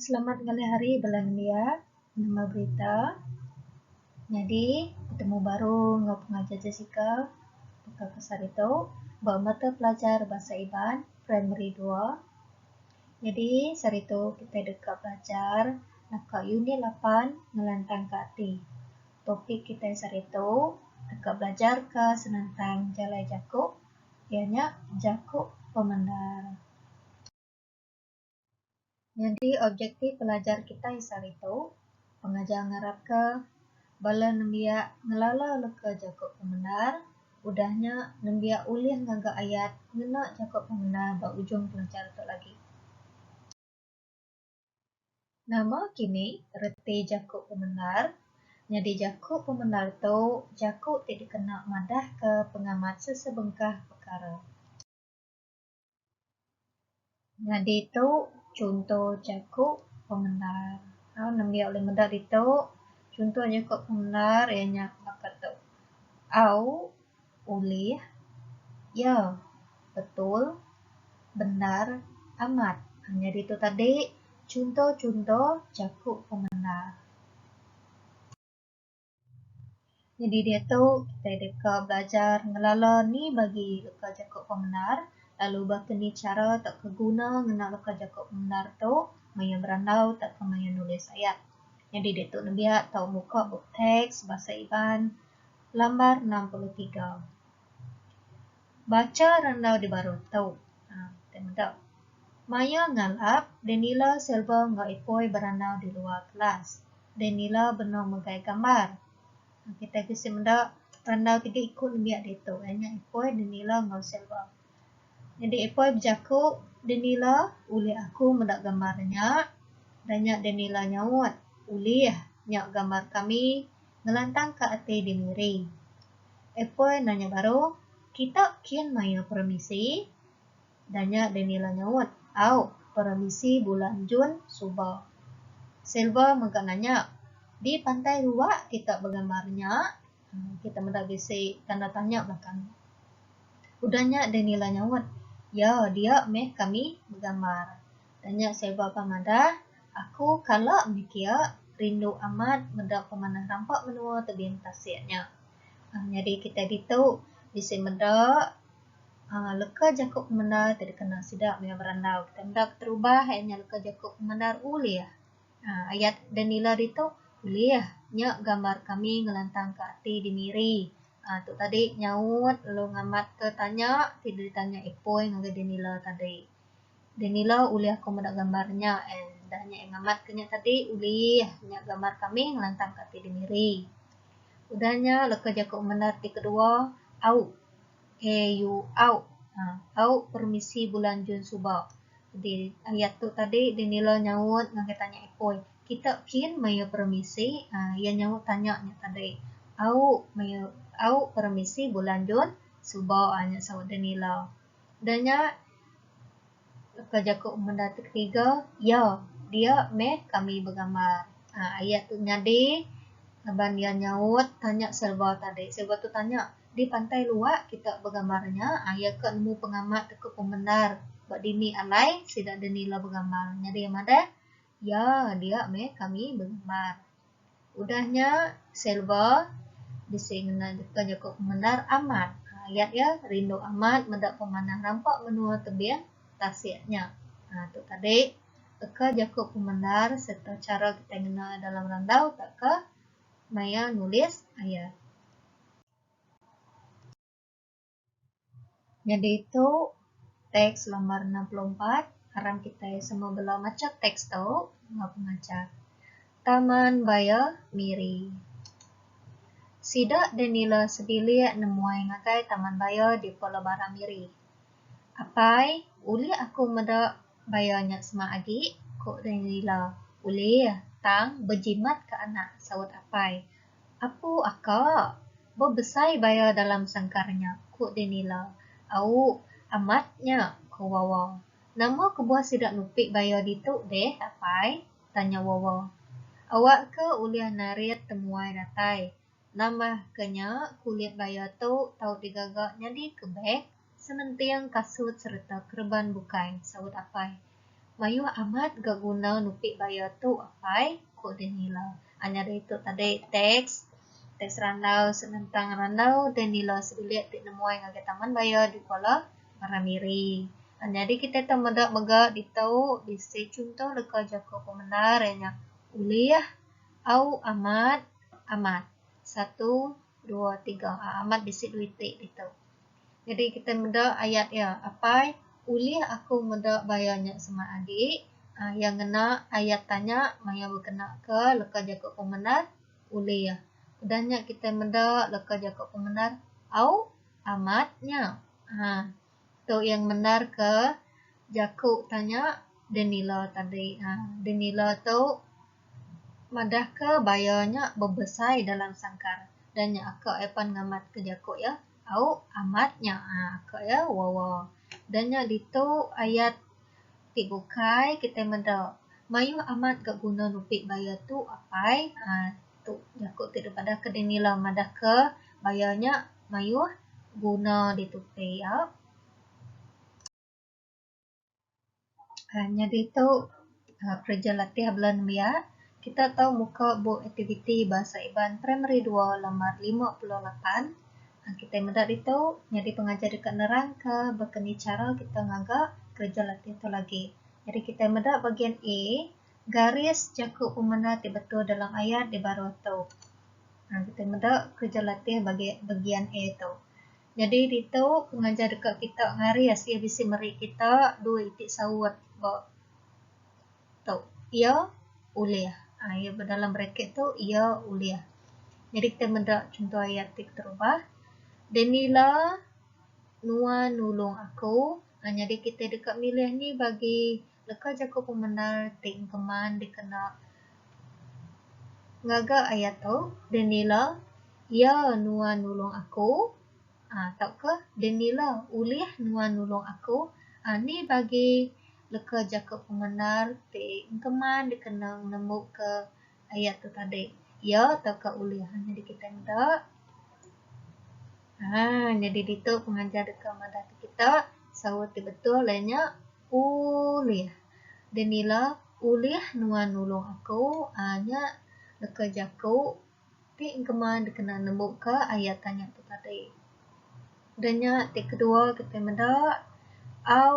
Selamat ngalih hari bala nembiya. Nama berita? Nyadi betemu baru enggau pengajar Jessica baka ke sehari tu ba mata pelajar Bahasa Iban Primary dua. Nyadi sehari tu kitai deka belajar naka unit lapan ngelantangka ati. Topik kitai sehari tu deka belajarka senentang jalai jaku. Iya nya jaku pemendar. Nyadi objektif pelajar kitai sehari tu, pengajar ngarapka bala nembiak ngelala leka jaku pemendar, udah nya nembiak ulih ngaga ayat ngena jaku pemendar ba ujung pelajar tu agi. Nama kini reti jaku pemendar? Nyadi jaku pemendar tu jaku ti dikena madahka pengamat sesebengkah pekara. Nyadi tu chunto jaku pemendar. Tau nembiak ulih meda ditu chunto jaku pemendar iya nya baka tu, Au. Ulih. Ya. Betul. Bendar. Amat. Nyadi tu tadi chunto-chunto jaku pemenda. Nyadi diatu kitai deka belajar ngelala ni bagi leka jaku pemendar lalu baka ni chara tauka guna ngena leka jaku pemendar tu maya berandau tauka maya nulis ayat. Nyadi diatu nembiak tau muka bup teks Bahasa Iban. Lambar enam puluh tiga. Bacha randau di baruh tu. Haa, kitai meda. Maya ngalap, Danila Silva enggau Ipoi berandau di luar kelas. Danila benung megai gambar. Kitai bisi meda randau tidi ku nembiak ditu iya nya Ipoi, Danila enggau Silva. Nyadi epoi bejaku Danila ulih aku meda gambar nya. Udah nya Danila nyaut, Ulih. Nya gambar kami ngelantangka ati diri. Epoi nanya baru, Kita kin maia peremisi? Udah nya Danila nyaut, Au, peremisi bulan Jun suba. Silva mega nanya, Di pantai Ruak kita begambar nya? Kita meda bisi tanda tanya belakang. Udah nya deh Nila nyaut, Ya, dia meh kami begambar. Udah nya Selva pan madah, Aku kala meh kia, rindu amat meda pemanah rampa menua tebing tasik nya. Uhh nyadi kitai ditu bisi meda uhh leka jaku pemendar ti dikena sida maya berandau. Kitai meda keterubah iya nya leka jaku pemendar ulih. Ayat da nila ditu ulih nya gambar kami ngelantangka ati di Miri. Aaa tu tadi nyaut lalu ngamatka tanya ti ditanya Ipoi ngagai da nila tadi. Da nila ulih aku meda gambar nya and udah nya ngamatka nya tadi ulih nya gambar kami ngelantangka ati di Miri. Udah nya leka jaku menda ti kedua au. A U Au Au permisi bulan Jun suba jadi ayat tu tadi dia nila nyaut ngagai tanya ipoi kita kin mayuh permisi aaa iya nyaut tanya nya tadi Au mayuh Au permisi bulan Jun suba aa nya saut dia nila. Dah nya. Ka jaku menda ti ketiga, ya, dia meh kami begambar. Aa ayat tu nyadi laban iya nyaut tanya serba tadi. Serba tu tanya, di pantai luak kita begambar nya, aa iya ka nemu pengamat ku pemendar ba dini alai sida denila begambar. Nyadi iya madah Ya, dia meh kami bengemar. Udah nya, Selva bisi ngena nyuka jaku pemendar amat. Ayat iya, Rindu amat meda pemanah rampa menua tebing tasik nya. Tu tadi baka jaku pemendar sereta chara kitai ngena iya dalam randau tauka maya nulis ayat. Nyadi tu teks lambar enam puluh empat aram kitai semua bela macha teks tu enggau pengajar. Taman Baya Miri. Sida deh nila sebilik nemuai ngagai Taman Baya di Pela Bara Miri. Apai, ulih aku meda baya nya semak agi? ku deh nila. Ulih, tang bejimat ka anak, saut apai. Apu aka, ba besai baya dalam sangkar nya, ku Denila. Au, amat nya, ku Wawa. Nama kebuah sida nupi baya ditu deh, apai? tanya Wawa. Awakka ulih narit temuai datai. Nambahka nya, kulit baya tu tau digaga nyadi ke beg. Sementing kasut sereta kereban bukai, saut Apai. Mayuh amat ga guna nupi bayar tu Apai, ku Danila. Anyar ditu tadi teks, teks randau senentang randau Danila sebilik ti nemuai ngagai taman bayar di Kuala Maramiri. Nyadi kitai tau meda mega ditu bisi chunto leka jaku pemendar iya nya ulih, au, amat, amat. Satu, dua, tiga. Amat bisi duit ti ditu. Jadi kita meda ayat iya, Apai, ulih aku meda bayar nya semak agi? Iya ngena ayat tanya maya bekena ke leka jaku pemendar, Ulih. Udah nya kita meda leka jaku pemendar, Au, amat nya. Haa. Tu iya ngemendarka jaku tanya Danila tadi. Haa. Danila tu madahka bayar nya bebesai dalam sangkar. Udah nya aka iya pan ngamatka jaku iya. Au amat nya ka iya wawa. Da nya ditu ayat ti bukai kitai meda. Mayuh amat ga guna nupi baya tu apai uhh tu jaku ti dep madah ke dini ila madah ke baya nya mayuh guna ditu pia. uhh nyadi tu uhh kereja latih bala nembiak kita tau muka bup aktiviti Bahasa Iban Primary dua laman lima puluh lapan uhh kitai meda ditu nyadi pengajar deka nerangka baka ni chara kita ngaga kereja latih tu lagi. Jadi kitai meda bagian A garis jaku pemena ti betul dalam ayat ti baruh tu. uhh kitai meda kereja latih bagi bagian A tu. Nyadi ditu, pengajar deka kita ngaris iya bisi meri kita dua iti saut ba tu, iya ulih. Aa iya ba dalam braket tu iya ulih. Nyadi kitai meda chunto ayat ti keterubah, Daniela nuan nulung aku. Aa nyadi kitai deka milih ni bagi. Leka jaku pemendar ti engkeman dikena ngaga ayat tu, Dennila, iya nuan nulung aku, aa, tauka Dennila, ulih nuan nulung aku, aa, ni bagi leka jaku pemendar ti engkeman dikena ngembuka ayat tu tadi. Iya tauka ulih nyadi kitai meda. Aa, nyadi ditu pengajar deka madahka kita saut ti betul iya nya. Ulih. Danila, Ulih nuan nulung aku aa nya leka jaku ti engkema dikena nembuka ayat tanya tu tadi. Da nya ti kedua kitai meda au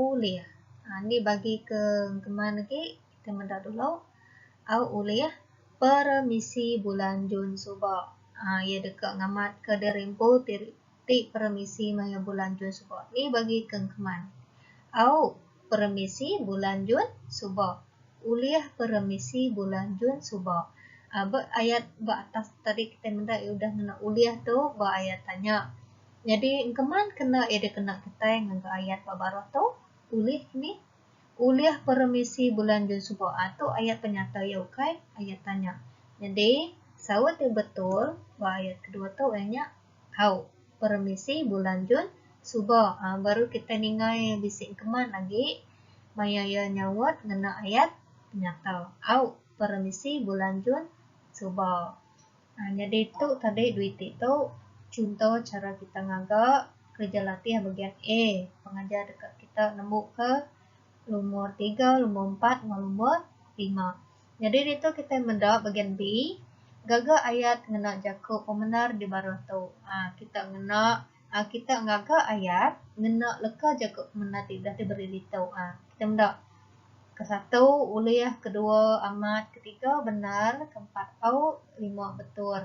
ulih aa ni bagi ke engkeman agi kitai meda dulu au ulih peremisi bulan Jun suba aa iya deka ngamatka diri empu ti Ti peremisi maya bulan Jun suba ni bagi ke engkeman? Au, peremisi bulan Jun suba. Ulih peremisi bulan Jun suba. Ba ayat ba atas tu tadi kitai meda iya udah ngena ulih tu ba ayat tanya. Nyadi engkeman kena iya dikena kitai ngaga ayat ba baruh tu, ulih ni? Ulih peremisi bulan Jun suba. Aa tu ayat penyata iya ukai ayat tanya. Nyadi saut iya betul ba ayat kedua tu iya nya Hau. Peremisi bulan Jun suba uhh baru kitai ningai bisi engkeman agi maya iya nyaut ngena ayat penyata. Hau. Peremisi bulan Jun suba uhh nyadi tu tadi duiti tu chunto chara kitai ngaga kereja latih Bagian A pengajar deka kitai nembuka lumur tiga, lumur empat enggau lumur lima. Nyadi ditu kitai meda bagian B gaga ayat ngena jaku pemendar di baruh tu. Aaa kita ngena aaa kita ngaga ayat ngena leka jaku pemendar ti udah diberi ditu. Aaa kita meda ke satu ulih, ke dua amat, ke tiga bendar, ke empat au, ke lima betul.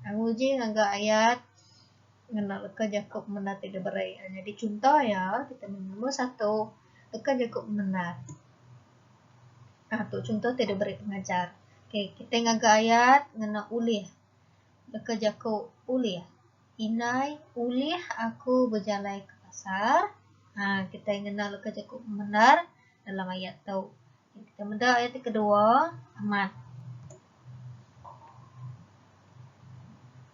Aaa nguji ngaga ayat ngena leka jaku pemendar ti diberi. Aaa nyadi chunto iya kita meh nombor satu leka jaku pemendar. Aaa tu chunto ti deh beri pengajar. Okay kitai ngaga ayat ngena ulih. Deka jaku ulih. Indai ulih aku bejalai ke pasar. Aaa kitai ngena leka jaku bendar dalam ayat tu. Kitai meda ayat ti kedua amat.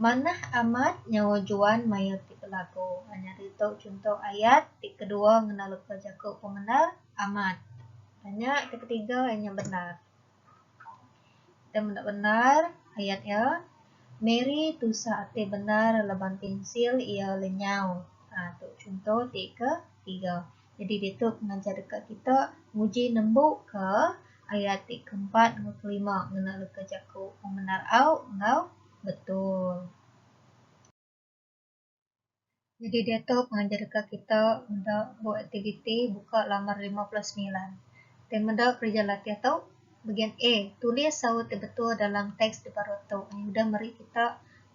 Manah amat nyawa Juan mayuh ti belagu. Aaa nyadi tu chunto ayat ti kedua ngena leka jaku pemendar. Amat. Tanya ke ketiga inya bendar. Kita meda bendar ayat iya. Mary tusah ati bendar laban pensil iya lenyau. Ha, tu chunto ti ke tiga. Jadi ditu pengajar deka kita nguji nembu ke ayat ti keempat enggau kelima ngena leka jaku pemendar au enggau betul. Nyadi diatu pengajar deka kita meda bup aktiviti buka laman lima puluh semilan. Ti meda kerja latih tu, Bagian A, tulis saut ti betul dalam teks ti baru tu. Ni udah meri kita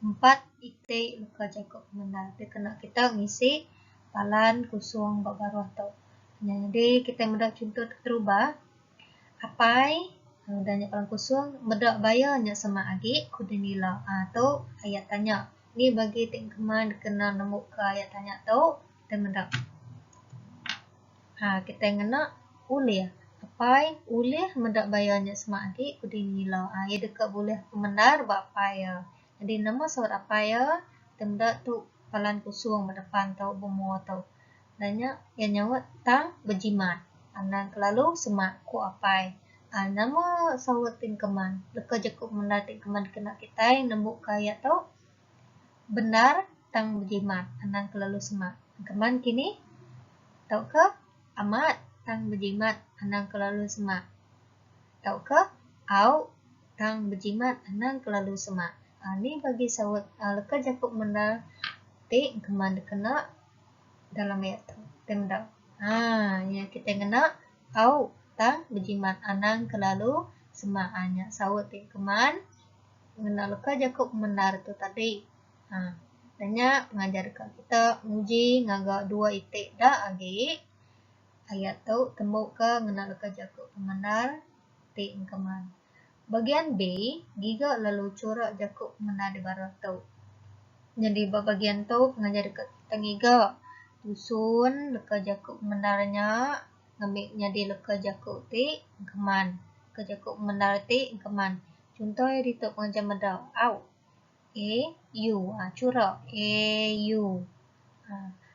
empat iti leka jaku pemendar ti kena kita ngisi palan kusung ba baruh tu. Nyadi kitai meda chunto ti terubah. Apai, udah nya Orang Kusung, meda baya nya semak agi, ku deh nila. Aa tu ayat tanya. Ni bagi ti engkema dikena nemuka ayat tanya tu, kitai meda. Aa kitai ngena ulih. Apai ulih meda baya nya semak agi, ku deh nila. Aa iya deka bulih pemendar ba apai iya. Jadi nama saut apai iya, kitai meda tu Palan Kusung ba depan tu, bemua tu. Nanya iya nyaut tang bejimat. Anang kelalu semak ku apai. Aa nama saut ti engkeman. Leka jeku bendar ti engkeman dikena kitai nembuka iya tu bendar tang bejimat anang kelalu semak. Engkeman kini tauka amat tang bejimat anang kelalu semak tauka au tang bejimat anang kelalu semak. Aa ni bagi saut aa leka jeku bendar ti engkeman dikena. dalam ayat tu kenda aa iya kitai ngena au tang bejimat anang kelalu semak aa nya saut ti keman ngena leka jaku pemendar tu tadi aa da nya pengajar deka kita nguji ngaga dua iti da agi ayat tu tembuka ngena leka jaku pemendar ti engkeman. Bagian B, Giga lalu chura jaku mengena dibara tu. Nyadi ba bagian tu pengajar deka tengiga tusun leka jaku pemendar nya ngambi nyadi leka jaku ti engkeman, leka jaku pemendar ti engkeman. Chunto iya ditu pengajar meda, au, a, u, a chura, a, u.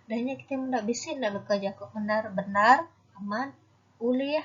Udah nya kitai meda bisi enda leka jaku pemendar bendar, amat, ulih,